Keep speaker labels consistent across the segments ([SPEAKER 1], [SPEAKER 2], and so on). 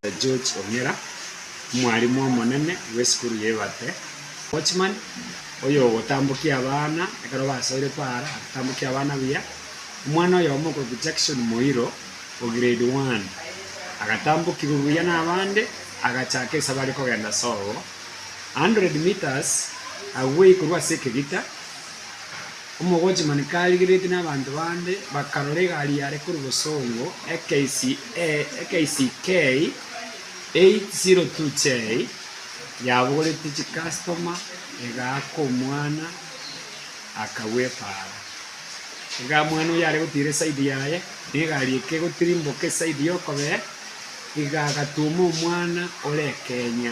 [SPEAKER 1] Dr. George Ong'era, omwarimu omonene bw'esukuru ya Ebate, Watchman, oyogotambokia abana ekero basoire para, agotambokia abana buya. Omwana oyomo okorokwa Jackson Moiro, o grade one, agatambokigwa buya nabande, agachaka esabe are kogenda sobo, 100 metres, agwei korwa ase ekegita. Omogochi mane karigeretie nabanto bande, bakarora egari yare korwa bosongo, eKCA, eKCK 802J, yabogoretie chikastoma, egaaka omwana, akagwepara. Igaa mwana oyio are gotiira esaidi yaye, na egari ekegotirimboka esaidi y'okobee, igaa agatuoma omwana ore ekenya.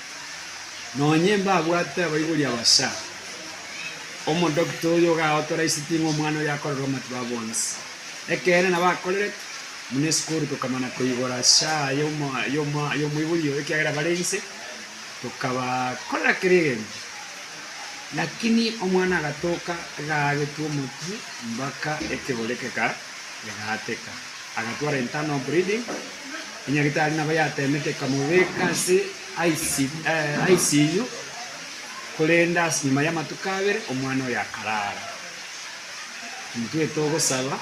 [SPEAKER 1] Nonye mbabwate abaibori abasha, omodokita oyo ogaautoraiseti ng'a omwana oyo akorerwe amatuba bonsi. Ekeene nabo akorerete. Buna esukuru tokamana koigora sha y'omoibori oyo ekiagera bare inse, tokabakorera kera egento. Lakini omwana agatoka, agaagetwa omotwe mpaka ekerogo gekegaka. Egaateka. Agatwara internal bleeding, enyagitari nabo yateemete ekamobeka ase ICU, korende ase nyuma y'amatuko abere omwana oyo akaraara. Intwete ogosaba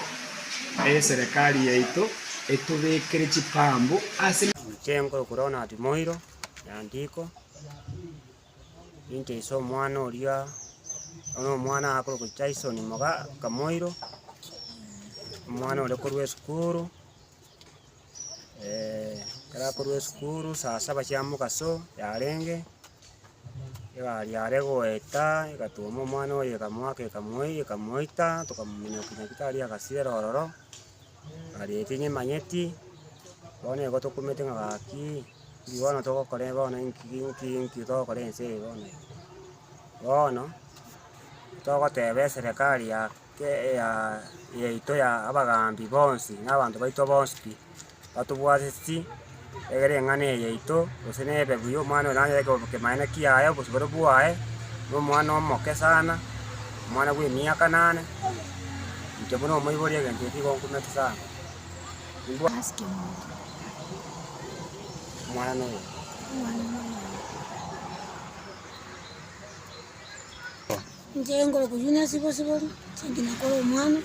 [SPEAKER 1] eserekari yaito etobekere chipambu ase. Emichengo yo korora na
[SPEAKER 2] Timoiro, Eandiko, Inche ise omwana oria, oyo omwana akorokwa Jaison Moga Kamoiro, omwana oria okorwa esukuru, ekero akorwa esukuru saa saba chia mogaso yarenge, egari yare goeta egatuoma omwana oye ekamoaka ekamoiyia ekamoita tokamominyokia nyagetari agasirera ororo. Aria eke nyemanyeti, bono igo tokumete ng'a gaki, ki bono togokora ebe bono enki ki enki ki enki togokora ense eye bono eye. Bono, togoteba eserekari ya ke eyaa yaito ya abagaambi bonsi, na abanto baito bonsi pi. batobwateti egere eng'ana eye yaito, gose nebebu y'omwana oyo nanyare koba kemaene kiaye, obosibore bwaye, na omwana omoke sana, omwana bw'emiaka nane, inche buna omoibori egento eke nigo nkomete sana. Omwana na oyomo.
[SPEAKER 3] Inche nkore koyunia sibo sibori, chimbi nakore omwana,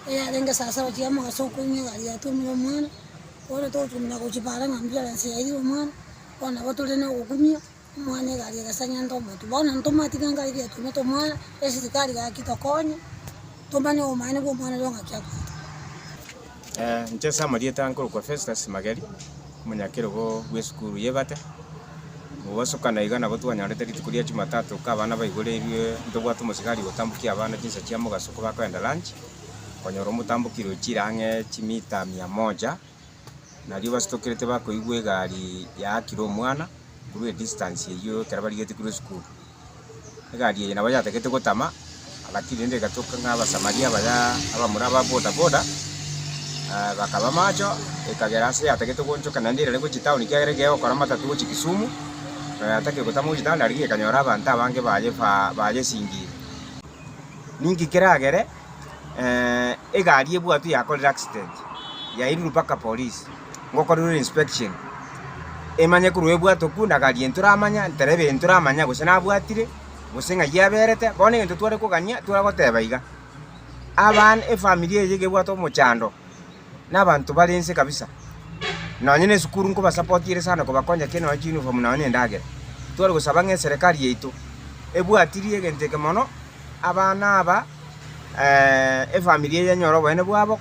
[SPEAKER 3] eyarenge saa saba chiria mogaso okoyunia egari yatuomire omwana, bono togotumia gochia bare ng'a ambulance yairire omwana, bono nabo tore na ogokumia, omwana egari egasang'enta omotwe. Bono intwe omatiga ngare riria yatuomete omwana, esirikari gaki tokonye, tomanye obomaene bwa omwana oria ng'a ki akorete. Inche
[SPEAKER 4] ase amarieta nkorokwa Festus Mageri, omonyakerogo bw'esukuru y'Ebate. Gogosokana iga nabo twanyorete rituko ria Jumatatu ka abana baigoreirwe ntobwate omosigari gotambokia abana chinsa chia mogaso kobakoenda lunch, konyora omotambokirwe chire ang'e chimita mia moja, nario basitokerete bakoigwa egari yaakire omwana korwa edistance eyio ekero barigetie korwa esukuru. egari eye nabo yatagete gotama, lakini rende egatoka ng'a Abasamaria abaya abamura aba bodaboda, bakaba macho, ekagera ase yatagete goonchoka naende erere gochia town ekiagera ekero egokora amatatu gochia Kisumu, na yataka gotama gochia town aria ekanyora abanto abange baye bayesingiire. Ninki keragere? egari ebwatwe yakorire accident, yairurwa mpaka polisi ngokorerwe inspection, emanye korwa ebwate okwo na gari eyio toramanya, ntereba eyio toramanya gose nabwatire, gose ng'ai yaberete, bono egento tware kogania, tware goteba iga, abana efamiri eye nigo ebwate omochando. nabanto bare inse kabisa, nonye ne esukuru nkobasapoti ere sana kobakonya ki nonye chiunifomu nonye ne endagera. Tware gosaba ng'a eserekari yaito ebwatirie egento eke mono, abana aba efamiri eye enyore oboene bwabo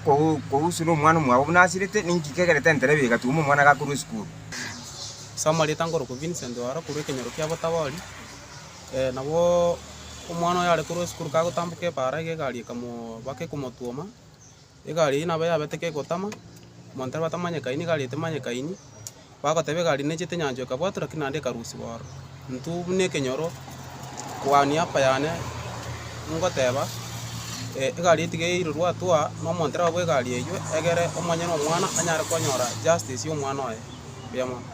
[SPEAKER 4] kohusu na omwana omwabo buna asirete, ninki kegerete enterebia egatuma omwana gakorwa esukuru. Soma
[SPEAKER 5] rieta nkorokwa Vincent ore korwa ekenyoro kia Botabori, nabo omwana oyo are korwa esukuru kagotamboka ebaara iga egari ekamobaka ekomotwoma. Egari eyio nabo yabete kegotama, omonto aria batamanyekaini, egari eyio temanyekaini, bagoteba egari nechete nyanchwa ekabwatwa lakini naende ekarusiwa ororo. Intwe buna ekenyoro kwa niaba yane ngoteba egari eyio tiga eirwe rwatwa na omonto orabwo egari eyio egere omonyene omwana anyare konyora justice ya omwana oye. Mbuya mono.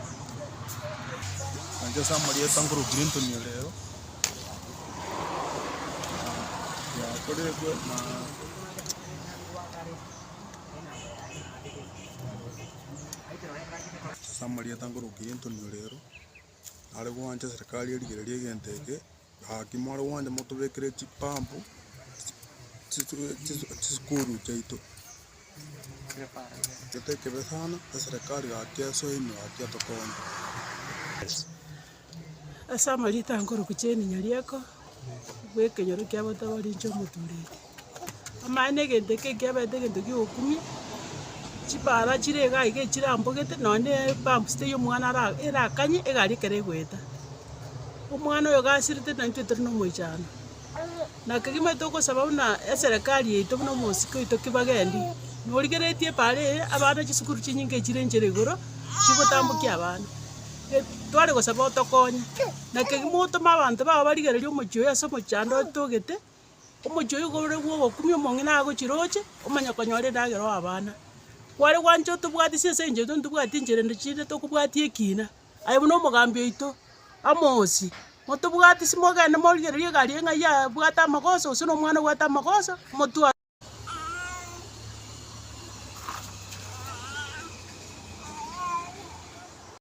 [SPEAKER 6] Ase amarieta nkorukia Anthony Orero, are gwancha serikali erigereria egento eke, gaki more gwancha motobekere chipampu chisukuru chiaito. Ase
[SPEAKER 7] amarita a nkoruku chi'eminya ri'eko, bw'ekenyoro kia botabori inche omotureri. Amaye n'egento eke ekiaberete egento gi'ogokumia, chipara chire iga iga echirambogete, nonya ne epampu sita y'omwana ara erakanye egari ekero egoeta. Omwana oyo gasirete naintwe tore nomoichano. na kegima togosaba buna eserekari yaito buna omosike oito Kibagendi, norigeretie epaara eye abana chisukuru chinyinge chire nchera igoro, chigotambokia abana. Tware gosaba otokonye, na kegima otome abanto bao barigererie omochie oyo ase omochando otogete, omochie oyo igoro bwa ogokumia omong'ina agochiroche, omanye konyora endagera oe abana. Kware gwancha otobwatesie ase enchera intwe ntitobwati enchera ende chinde tokobwati ekina. aye buna omogambi oito amosie, motobwati simogende morigererie egari eye ng'ai yabwate amagoso gose nomwana obwate amagoso motware